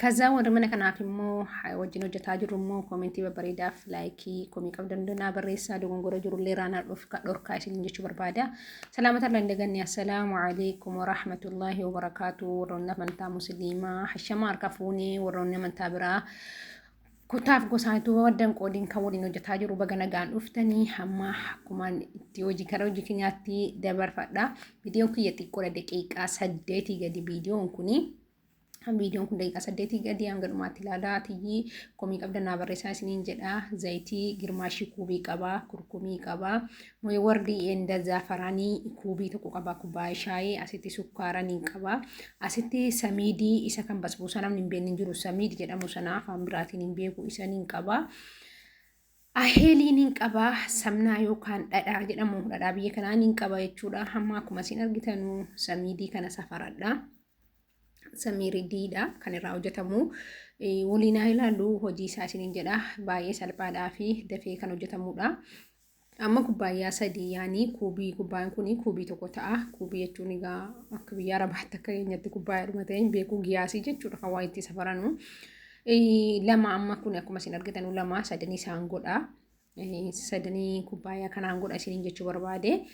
Kazaa warri mana kanaaf immoo wajjin hojjetaa jirru immoo koomentii babbareedaaf laayikii komii qabdan naa barreessaa dogongora jirullee raanaa dhufka dhorkaa isin jechuu barbaada. Salaamata irra hin daganne assalaamu alaikum warahmatullaahi wabarakaatu warroonni amantaa musliimaa hashama harka fuunee warroonni amantaa biraa kutaaf gosaatu waddan qoodiin kan waliin hojjetaa jiru baga nagaan dhuftanii hamma akkumaan itti hojii karaa hojii keenyaatti dabarfadha. Viidiyoon kiyya xiqqoodha daqiiqaa saddeetii gadi viidiyoon kuni. viidiyoon kun daqiiqaa saddeetii gadi hanga dhumaatti ilaalaa tiyyii komii qabda naa barreessaa isiniin jedha zayitii girmaashii kuubii qabaa kurkumii qabaa wardii enda zaafaraanii kuubii tokko qabaa kubbaayee shaayee asitti sukkaaranii qabaa asitti samiidii isa kan basbuusaa namni hin beekne hin jiru samiid jedhamu sana afaan biraatiin hin beeku isaniin qabaa. Aheeliin hin qabaa samnaa yookaan dhadhaa jedhamu dhadhaa biyya kanaa hin qaba jechuudha. Hamma akkuma isin argitanu samiidii kana safaradha. samiiri diidha kan irraa hojjetamu waliin haa ilaallu hojii isaa isiniin jedha baay'ee salphaadhaa fi dafee kan hojjetamudha. Amma kubbaayyaa sadii yaanii kuubii kubbaan kun kuubii tokko ta'a kuubii jechuun egaa akka biyya arabaatti akka keenyatti kubbaayyaa dhuma ta'e hin beeku giyaasii jechuudha kan waa itti safaranu. Lama amma kun akkuma isin argitan lama sadan isaan godha. sadanii kubbaayyaa kanaan godha isiniin jechuu barbaade.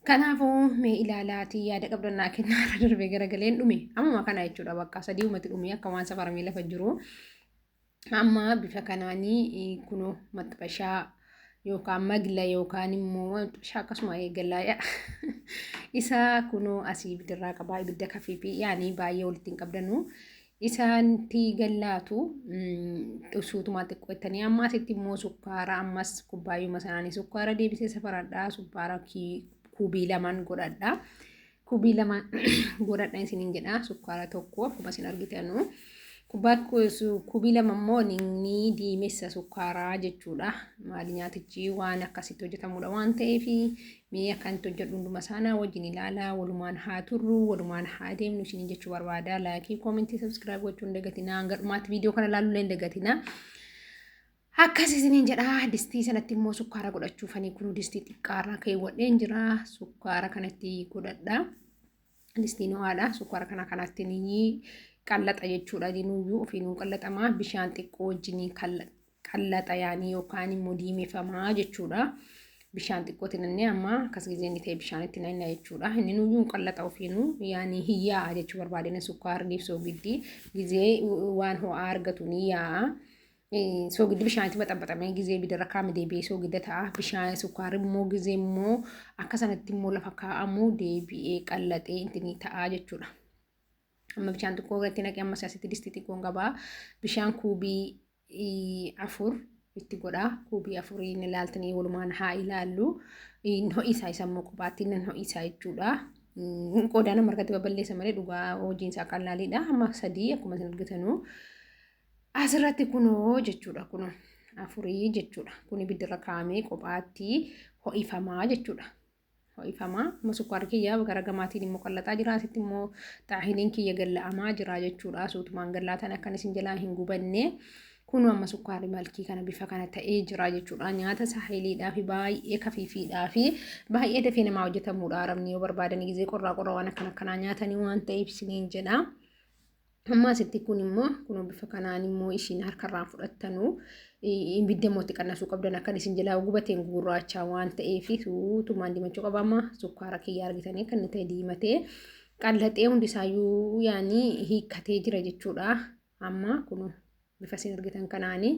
Kanaafuu mee ilaalaatii yaada qabdannaa kennaa irra darbee garagaleen dhume. Ammuma kana jechuudha bakka sadii uumatti dhume akka waan safaramee lafa jiru. Amma bifa kanaanii kunoo maxxashaa yookaan magla yookaan immoo maxxashaa akkasuma eegalaaya. Isaa kunoo asii ibiddarraa qabaa ibidda kafiifi yaanii baay'ee walitti hin qabdanuu. isaanti gallaatu suutumaa xiqqoo ittanii ammaas itti immoo sukkaara ammas kubbaayyuma sanaanii sukkaara deebisee safaradhaa sukkaara kubii lamaan godhadhaa kubii lamaan godhadha isiniin jedhaa sukkaara tokko akkuma isin argitanu kubbaa kubii lama immoo inni diimessa sukkaaraa jechuudha maali nyaatichi waan akkasitti hojjetamudha waan ta'eef Mee akkan itti hojjedhu hunduma saanaa wajjin ilaalaa walumaan haa turru walumaan haa deemnu isiniin jechuu barbaada laayikii koomentii sabskiraayib gochuu hin dagatinaa hanga dhumaatti viidiyoo kana ilaaluu illee hin dagatinaa. Akkas isiniin jedha distii sanatti immoo sukkaara godhachuufanii kun distii xiqqaarra keewwadheen jira sukkaara kanatti godhadha. Distii noo'aadha sukkaara kana kanatti ni qallaxa jechuudha dinuyyuu ofiinuu qallaxamaa bishaan xiqqoo wajjin qallaxa yaanii yookaan immoo diimefama jechuudha. Bishaan xiqqootti nannee amma akkas gizee inni ta'e bishaanitti nanna jechuudha. Inni nuyyuu qallaxa ofiinu yaanii hin yaa'a jechuu barbaadina sukkaarniif soogiddi gizee waan ho'aa argatu ni yaa'a. Soogiddi bishaanitti baxabaxamee gizee bidarra kaa'ame deebi'ee soogidda ta'a. Bishaan sukkaarri immoo gizee immoo akka sanatti immoo lafa kaa'amu deebi'ee qallaxee itti ni ta'a jechuudha. Amma bishaan xiqqoo irratti naqee ammas asitti distii xiqqoon qabaa. Bishaan kuubii afur itti godhaa kuubii afurii inni ilaaltanii walumaan haa ilaallu hin ho'isaa isa immoo kophaatti inni hin ho'isaa jechuudha. Qodaa nama harkatti babal'eessa malee dhugaa hojiin isaa qallaaliidha amma sadii akkuma isin argitanuu asirratti kunoo jechuudha kunoo afurii jechuudha kun ibiddarra kaa'amee kophaatti ho'ifamaa jechuudha. ho'ifamaa amma sukkaarri kiyya gara gamaatiin immoo qallaxaa jira asitti immoo xaahiniin kiyya galla'amaa jira jechuudha suutumaan gallaatan akkan isin jalaa hin gubanne kunu amma sukkaarri malkii kana bifa kana ta'ee jira jechuudha nyaata saahiliidhaa fi baay'ee kafiifiidhaa fi baay'ee dafee namaa hojjetamuudha arabni yoo barbaadanii gizee qorraa qorraa waan akkan akkanaa nyaatanii waan ta'eef isiniin jedha. Amma asitti kun immoo kunoo bifa kanaan immoo ishiin harkarraan fudhattanuu ibidda immoo itti qannasuu qabdan akkan isin jalaa gubateen gurraachaa waan ta'eef suutumaan dimachuu qabama sukkaara kiyya argitanii kan inni ta'e diimatee qallaxee hundisaayyuu yaanii hiikkatee jira jechuudha. Amma kunoo. bifa isin argitan kanaani.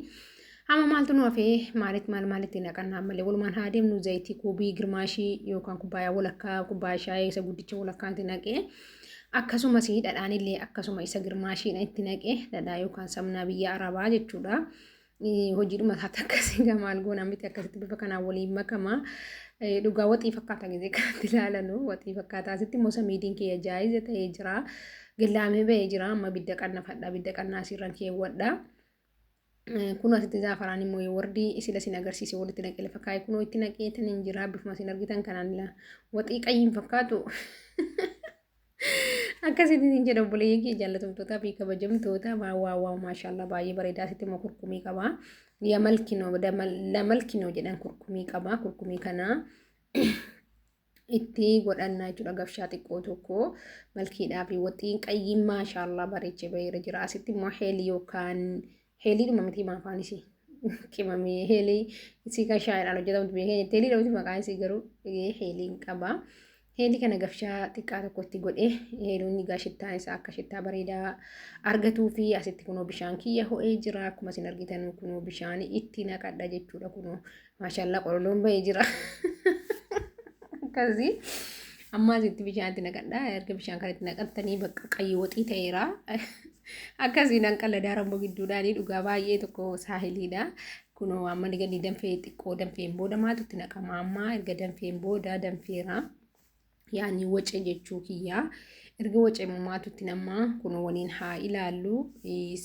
Amma maaltu nu hafee maalitti maal maalitti naqannaa ammallee walumaan haa deemnu zayitii kuubii girmaashii yookaan kubbaayaa walakkaa kubbaa shaayee isa guddicha walakkaatti naqee akkasumas dhadhaan illee akkasuma isa girmaashiidha itti naqee dhadhaa yookaan sabnaa biyya arabaa jechuudha. Hojiidhuma isaatti akkasii gamaal goona miti akkasitti bifa kanaan waliin makama. Dhugaa waxii fakkaata gisee kanatti ilaalanu waxii fakkaata asitti immoo samiidiin kiyya jaayiza ta'ee jira. Gillaamee ba'ee jira amma bidda qannafadha bidda qannaa asiirran keewwadha. Kun asitti zaafaraan immoo yoo wardi isila sin agarsiise walitti naqee lafa kaa'e kunoo itti naqee tan hin jira bifuma sin argitan kanaan la waxii qayyiin fakkaatu. Akkasitti isin jedha obboleeyyan kee jaallatamtootaa fi kabajamtoota maa waa waa maashaallah baay'ee bareedaa asitti immoo kurkumii qaba. Yamalkinoo lamalkinoo jedhan kurkumii qaba kurkumii kanaa. itti godhanna jechuudha gafshaa xiqqoo tokko malkiidhaa fi waxiin qayyiin maashaallah bareechee baheera jira asitti immoo heelii yookaan heelii dhuma miti maa afaan isii qimamee heelii isii kan shaayidhaan hojjetamtu beekee jettee heelii dhamti maqaan isii garuu heeliin qaba. Heelii kana gafshaa xiqqaa tokkotti godhee heeluun egaa shittaan isaa akka shittaa bareedaa argatuu fi asitti kunoo bishaan kiyya ho'ee jira akkuma isin argitan kunoo bishaan itti naqadha jechuudha kunoo Maashaallah qololoon ba'ee jira. Akkasii ammaa asitti bishaan itti naqadha. Erga bishaan kan itti naqattanii bakka qayyii waxii ta'eera. Akkasii nan qalladaa rammoo gidduudhaanii dhugaa baay'ee tokko saahiliidha. Kunoo amma ni gadi danfee xiqqoo danfeen booda maaltu itti naqama ammaa erga danfeen booda danfeera. yaani wace jechuu kiyyaa erga wace mamaatutti namaa kun waliin haa ilaallu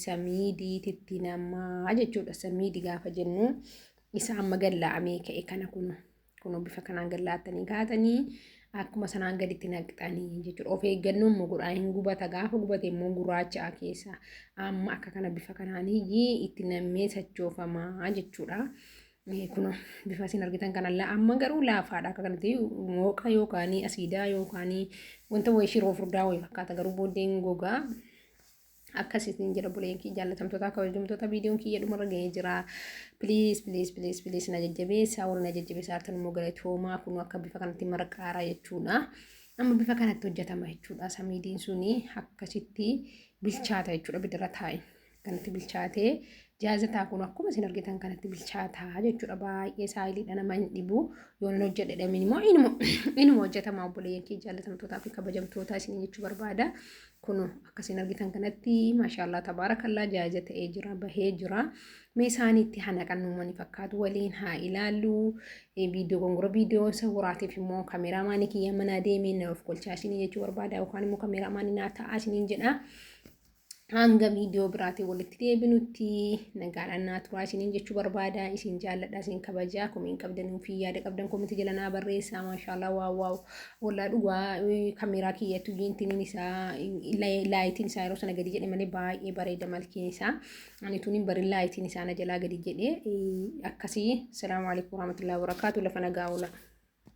samiidiititti namaa jechuudha samiidi gaafa jennu isa amma gallaa'amee ka'e kana kun kun bifa kanaan gallaa'attanii kaatanii akkuma sanaan gaditti naqxanii jechuudha of eeggannoo immoo godhaa hin gubata gaafa gubate immoo gurraacha'a keessa amma akka kana bifa kanaan itti nammee sachoofamaa jechuudha. Mee kuno bifa isin argitan kanalla amma garuu laafaadha akka kanatti mooqa yookaan asiidaa yookaan wanta wayii shiroo furdaa wayii fakkaata garuu booddeen gogaa akkasitiin jira buleen kiyya jaallatamtoota kabajamtoota viidiyoon kiyya dhumarra ga'ee jira piliis piliis piliis piliis na jajjabeessaa warri na jajjabeessaa hartan immoo galatoomaa kunuu akka bifa kanatti marqaaraa jechuudha amma bifa kanatti hojjetama jechuudha samiidiin suni akkasitti bilchaata jechuudha bidirra taa'e kanatti bilchaatee jaazataa kun akkuma isin argitan kanatti bilchaataa jechuudha baay'ee saayiliidha nama hin dhibu yoo hin hojjedhe dhamin immoo inuma inuma hojjetamaa obboleeyyan kee jaallatamtootaa fi kabajamtootaa isin jechuu barbaada kun akka isin argitan kanatti maashaallah tabaarakallaa jaaza ta'ee jira bahee jira mee isaaniitti hana qannuumani fakkaatu waliin haa ilaallu viidiyoo gongora viidiyoo isa waraatiif immoo kameeraa maanii kiyya manaa deemee na of kolchaa isin jechuu barbaada yookaan immoo kameeraa maanii naa ta'aa isiniin jedha. hanga viidiyoo biraatiin walitti deebinutti nagaadhaan naa turaa isiniin jechuu barbaada isin jaalladha isin kabajaa komiin qabdan fi yaada qabdan komitti jala naa barreessaa maashaallah waa waa wallaa dhugaa kameeraa kiyyattu jiintiniin isaa laayitiin isaa yeroo sana gadi jedhe malee baay'ee bareeda malkiin isaa ani tuniin bari laayitiin isaa na jalaa gadi jedhe akkasii salaamu alaikum warahmatullahi wabarakaatu lafa nagaa oolaa.